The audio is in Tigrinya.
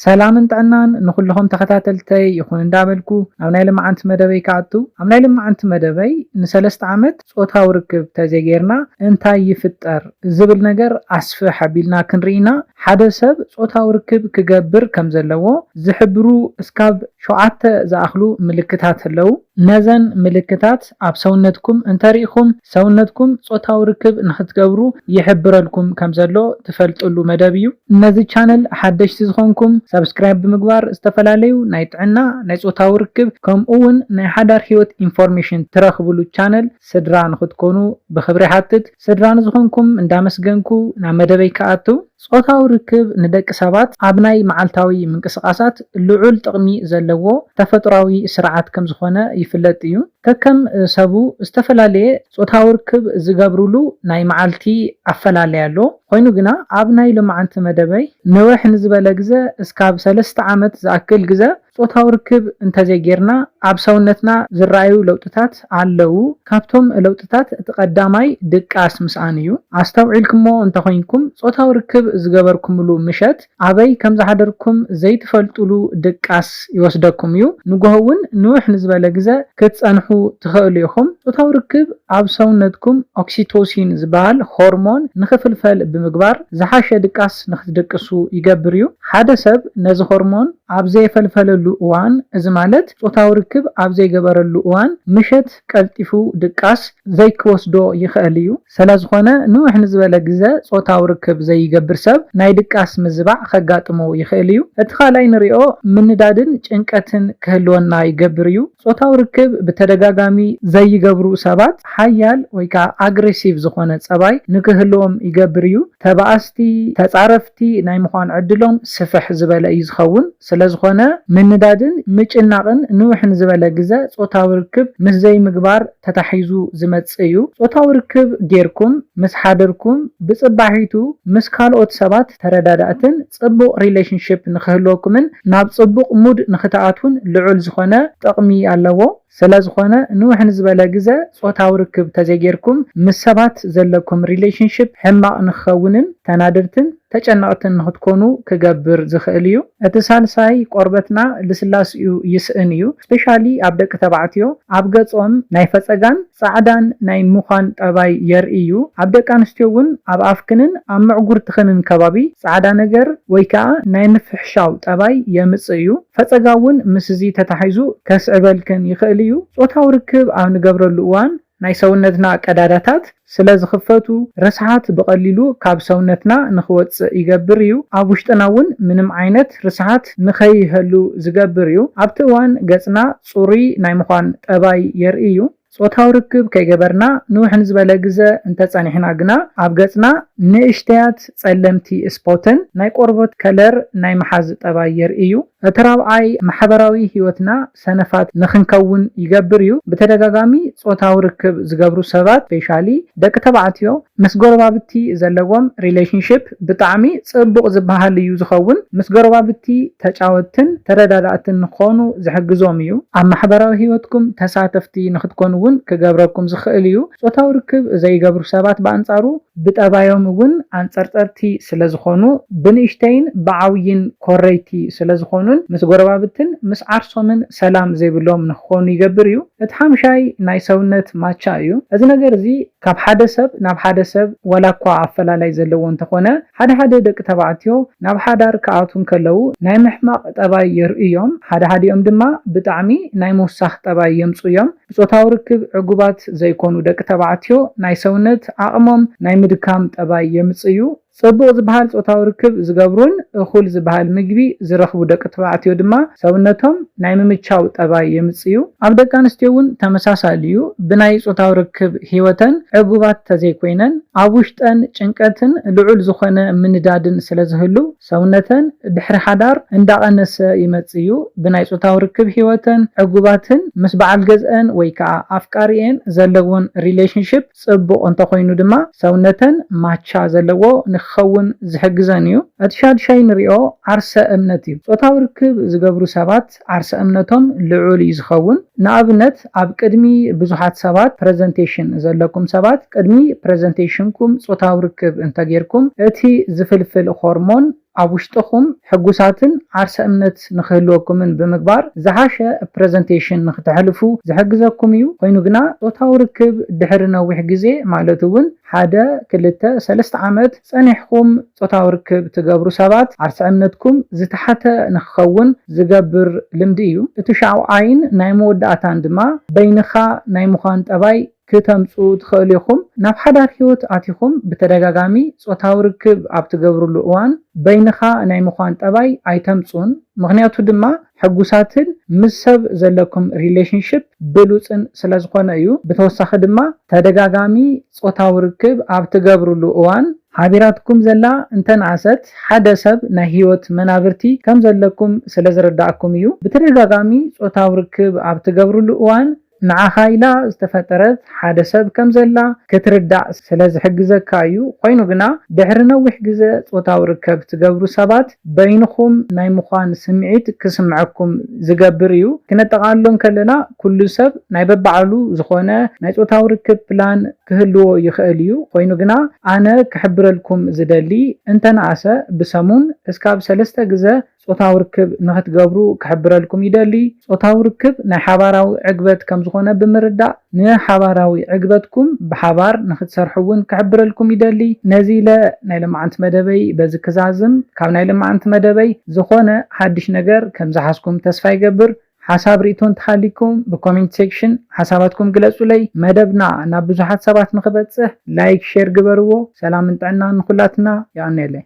ሰላምን ጥዕናን ንኹልኹም ተኸታተልተይ ይኹን እንዳበልኩ ናብ ናይ ልማዓንቲ መደበይ ክኣቱ ኣብ ናይ ልማዓንቲ መደበይ ንሰለስተ ዓመት ጾታዊ ርክብ ተዘይገይርና እንታይ ይፍጠር ዝብል ነገር ኣስፍሕ ኣቢልና ክንሪኢ ኢና ሓደ ሰብ ጾታዊ ርክብ ክገብር ከምዘለዎ ዝሕብሩ እስካብ ሸውዓተ ዝኣኽሉ ምልክታት ኣለው ነዘን ምልክታት ምልክት ኣብ ሰውነትኩም እንተርኢኹም፣ ሰውነትኩም ጾታዊ ርክብ ንኽትገብሩ ይሕብረልኩም ከምዘሎ ትፈልጥሉ መደብ እዩ። ነዚ ቻነል ሓደሽቲ ዝኾንኩም፣ ሳብስክራይብ ብምግባር ዝተፈላለዩ ናይ ጥዕና፣ ናይ ጾታዊ ርክብ ከምኡ'ውን ናይ ሓዳር ህይወት ኢንፎርሜሽን ትረኽብሉ ቻነል ስድራ ንኽትኮኑ ብኽብሪ ይሓትት። ስድራ ንዝኾንኩም እንዳመስገንኩ ናብ መደበይ ክኣቱ። ጾታዊ ርክብ ንደቂ ሰባት ኣብ ናይ መዓልታዊ ምንቅስቓሳት ልዑል ጥቕሚ ዘለዎ ተፈጥሮኣዊ ስርዓት ከም ዝዀነ ይፍለጥ እዩ። ከከም ሰቡ ዝተፈላለየ ጾታዊ ርክብ ዝገብሩሉ ናይ መዓልቲ ኣፈላላይ ኣሎ። ኰይኑ ግና፣ ኣብ ናይ ሎማዓንቲ መደበይ ንውሕ ንዝበለ ግዘ እስካብ ሰለስተ ዓመት ዝኣክል ግዘ ጾታዊ ርክብ እንተዘይጌርና ኣብ ሰውነትና ዝረኣዩ ለውጥታት ኣለዉ። ካብቶም ለውጥታት እቲ ቀዳማይ ድቃስ ምስኣን እዩ። ኣስተውዒልክሞ እንተኾይንኩም ጾታዊ ርክብ ዝገበርኩምሉ ምሸት ኣበይ ከምዝሓደርኩም ዘይትፈልጡሉ ድቃስ ይወስደኩም እዩ። ንጎሆ እውን ንውሕ ንዝበለ ግዘ ክትጸንሑ ትኸእሉ ኢኹም። ጾታዊ ርክብ ኣብ ሰውነትኩም ኦክሲቶሲን ዝበሃል ሆርሞን ንኽፍልፈል ብምግባር ዝሓሸ ድቃስ ንኽትድቅሱ ይገብር እዩ። ሓደ ሰብ ነዚ ሆርሞን። ኣብ ዘየፈልፈለሉ እዋን፣ እዚ ማለት ጾታዊ ርክብ ኣብ ዘይገበረሉ እዋን፣ ምሸት ቀልጢፉ ድቃስ ዘይክወስዶ ይኸእል እዩ። ሰለዝኾነ ንውሕ ንዝበለ ግዘ ጾታዊ ርክብ ዘይገብር ሰብ ናይ ድቃስ ምዝባዕ ከጋጥሞ ይኸእል እዩ። እቲ ካልኣይ ንሪኦ ምንዳድን ጭንቀትን ክህልወና ይገብር እዩ። ጾታዊ ርክብ ብተደጋጋሚ ዘይገብሩ ሰባት ሓያል ወይ ከኣ ኣግሬሲቭ ዝኾነ ፀባይ ንክህልዎም ይገብር እዩ። ተባኣስቲ፣ ተጻረፍቲ፣ ናይ ምዃን ዕድሎም ስፍሕ ዝበለ እዩ ዝኸውን። ስለዝኾነ ምንዳድን ምጭናቕን ንውሕ ንዝበለ ግዘ ጾታዊ ርክብ ምስ ዘይምግባር ተታሒዙ ዝመጽእ እዩ። ጾታዊ ርክብ ጌርኩም ምስ ሓደርኩም ብጽባሒቱ ምስ ካልኦት ሰባት ተረዳዳእትን ጽቡቕ ሪሌሽንሺፕ ንክህልወኩምን ናብ ጽቡቕ ሙድ ንክትኣትዉን ልዑል ዝኾነ ጥቕሚ ኣለዎ። ሰለዝኾነ ንውሕ ንዝበለ ግዘ ፆታዊ ርክብ ተዘይጌርኩም ምስ ሰባት ዘለኩም ሪሌሽንሽፕ ሕማቕ ንክኸውንን ተናደድትን ተጨነቕትን ንክትኮኑ ክገብር ዝኽእል እዩ። እቲ ሳልሳይ ቆርበትና ልስላስኡ ይስእን እዩ ስፔሻሊ ኣብ ደቂ ተባዕትዮ ኣብ ገፆም ናይ ፈፀጋን ፃዕዳን ናይ ምዃን ጠባይ የርእይ እዩ። ኣብ ደቂ ኣንስትዮ እውን ኣብ ኣፍክንን ኣብ ምዕጉርትኽንን ከባቢ ፃዕዳ ነገር ወይ ከዓ ናይ ምፍሕሻው ጠባይ የምፅእ እዩ። ፈጸጋ እውን ምስዚ ተታሒዙ ከስዕበልክን ይኽእል እዩ። ጾታዊ ርክብ ኣብ ንገብረሉ እዋን ናይ ሰውነትና ቀዳዳታት ስለ ዝኽፈቱ፣ ርስሓት ብቐሊሉ ካብ ሰውነትና ንኽወጽእ ይገብር እዩ። ኣብ ውሽጥና እውን ምንም ዓይነት ርስሓት ንኸይህሉ ዝገብር እዩ። ኣብቲ እዋን ገጽና ጽሩይ ናይ ምዃን ጠባይ የርኢ እዩ። ጾታዊ ርክብ ከይገበርና ንውሕ ንዝበለ ግዘ እንተጸኒሕና ግና ኣብ ገጽና ንእሽተያት ጸለምቲ ስፖትን ናይ ቆርቦት ከለር ናይ ምሓዝ ጠባይ የርኢ እዩ። እቲ ራብዓይ ማሕበራዊ ህይወትና ሰነፋት ንክንከውን ይገብር እዩ። ብተደጋጋሚ ጾታዊ ርክብ ዝገብሩ ሰባት ስፔሻሊ ደቂ ተባዕትዮ ምስ ጎረባብቲ ዘለዎም ሪሌሽንሽፕ፣ ብጣዕሚ ጽቡቕ ዝበሃል እዩ ዝኸውን። ምስ ጎረባብቲ ተጫወትትን ተረዳዳእትን ንክኾኑ ዝሕግዞም እዩ። ኣብ ማሕበራዊ ህይወትኩም ተሳተፍቲ ንክትኮኑ እውን ክገብረኩም ዝኽእል እዩ። ጾታዊ ርክብ ዘይገብሩ ሰባት ብኣንጻሩ ብጠባዮም እውን ኣንጸርጸርቲ ስለዝኾኑ ብንእሽተይን ብዓውይን ኮረይቲ ስለዝኾኑን ምስ ጎረባብትን ምስ ዓርሶምን ሰላም ዘይብሎም ንክኾኑ ይገብር እዩ። እቲ ሓምሻይ ናይ ሰውነት ማቻ እዩ። እዚ ነገር እዚ ካብ ሓደ ሰብ ናብ ሓደ ሰብ ዋላኳ ኣፈላላይ ዘለዎ እንተኾነ ሓደ ሓደ ደቂ ተባዕትዮ ናብ ሓዳር ክኣትዉ እንከለዉ ናይ ምሕማቕ ጠባይ የርእዩ እዮም። ሓደ ሓዲኦም ድማ ብጣዕሚ ናይ ምውሳኽ ጠባይ የምፅኡ እዮም። ብፆታዊ ርክብ ዕጉባት ዘይኮኑ ደቂ ተባዕትዮ ናይ ሰውነት ዓቕሞም ናይ ምድካም ጠባይ የምፅእዩ። ጽቡቕ ዝበሃል ጾታዊ ርክብ ዝገብሩን እኹል ዝበሃል ምግቢ ዝረኽቡ ደቂ ተባዕትዮ ድማ ሰብነቶም ናይ ምምቻው ጠባይ የምጽዩ። ኣብ ደቂ ኣንስትዮ እውን ተመሳሳሊ እዩ። ብናይ ጾታዊ ርክብ ህይወተን ዕጉባት ተዘይኮይነን፣ ኣብ ውሽጠን ጭንቀትን ልዑል ዝኾነ ምንዳድን ስለዝህሉ ሰውነተን ድሕሪ ሓዳር እንዳቐነሰ ይመጽእዩ። ብናይ ጾታዊ ርክብ ህይወተን ዕጉባትን ምስ በዓል ገዝኣን ወይ ከኣ ኣፍቃሪኤን ዘለወን ሪሌሽንሺፕ፣ ጽቡቕ እንተ ኾይኑ ድማ ሰውነተን ማቻ ዘለዎ ንክኸውን ዝሕግዘን እዩ። እቲ ሻድሻይ ንሪኦ ዓርሰ እምነት እዩ። ጾታዊ ርክብ ዝገብሩ ሰባት ዓርሰ እምነቶም ልዑል እዩ ዝኸውን። ንኣብነት ኣብ ቅድሚ ብዙሓት ሰባት፣ ፕረዘንቴሽን፣ ዘለኩም ሰባት ቅድሚ ፕረዘንቴሽንኩም ጾታዊ ርክብ እንተ ጌርኩም እቲ ዝፍልፍል ሆርሞን፣ ኣብ ውሽጥኹም ሕጉሳትን ዓርሰ እምነት ንኽህልወኩምን ብምግባር ዝሓሸ ፕረዘንቴሽን ንኽተሕልፉ ዝሕግዘኩም እዩ። ኾይኑ ግና ፆታዊ ርክብ ድሕሪ ነዊሕ ግዜ ማለት እውን ሓደ፣ ክልተ፣ ሰለስተ ዓመት ፀኒሕኹም ፆታዊ ርክብ ትገብሩ ሰባት ዓርሰ እምነትኩም ዝተሓተ ንኽኸውን ዝገብር ልምዲ እዩ። እቲ ሻውዓይን ናይ መወዳእታን ድማ በይንኻ ናይ ምዃን ጠባይ ክተምጽኡ ትኸእሉ ኢኹም። ናብ ሓዳር ህይወት ኣቲኹም ብተደጋጋሚ ጾታዊ ርክብ ኣብ ትገብርሉ እዋን በይንኻ ናይ ምዃን ጠባይ ኣይተምጽኡን፣ ምኽንያቱ ድማ ሕጉሳትን ምስ ሰብ ዘለኩም ሪሌሽንሺፕ ብሉጽን ስለ ዝኾነ እዩ። ብተወሳኺ ድማ ተደጋጋሚ ጾታዊ ርክብ ኣብ ትገብርሉ እዋን፣ ሓቢራትኩም ዘላ እንተነኣሰት ሓደ ሰብ ናይ ህይወት መናብርቲ ከም ዘለኩም ስለ ዝርድኣኩም እዩ። ብተደጋጋሚ ጾታዊ ርክብ ኣብ ትገብርሉ እዋን፣ ንዓኻ ኢላ ዝተፈጠረት ሓደ ሰብ ከም ዘላ ክትርዳእ ስለ ዝሕግዘካ እዩ፣ ኾይኑ ግና ድሕሪ ነዊሕ ግዘ ፆታዊ ርከብ ትገብሩ ሰባት በይንኹም ናይ ምዃን ስምዒት ክስምዐኩም ዝገብር እዩ። ክነጠቓልሎ እንከለና ኩሉ ሰብ ናይ በባዕሉ ዝኾነ ናይ ፆታዊ ርክብ ፕላን ክህልዎ ይኽእል እዩ፣ ኾይኑ ግና ኣነ ክሕብረልኩም ዝደሊ እንተነኣሰ ብሰሙን እስካብ ሰለስተ ግዘ ጾታዊ ርክብ ንኽትገብሩ ክሕብረልኩም ይደሊ። ጾታዊ ርክብ ናይ ሓባራዊ ዕግበት ከም ዝኾነ ብምርዳእ፣ ንሓባራዊ ዕግበትኩም ብሓባር ንኽትሰርሑ እውን ክሕብረልኩም ይደሊ። ነዚ ኢለ ናይ ለማዓንቲ መደበይ በዚ ክዛዝም። ካብ ናይ ለማዓንቲ መደበይ ዝኾነ ሓድሽ ነገር ከም ዝሓዝኩም ተስፋ ይገብር። ሓሳብ ሪኢቶ እንተሃልይኩም ብኮሜንት ሴክሽን ሓሳባትኩም ግለጹለይ። መደብና ናብ ብዙሓት ሰባት ንኽበጽሕ ላይክ ሼር ግበርዎ። ሰላምን ጥዕናን ንኹላትና። የቐንየለይ።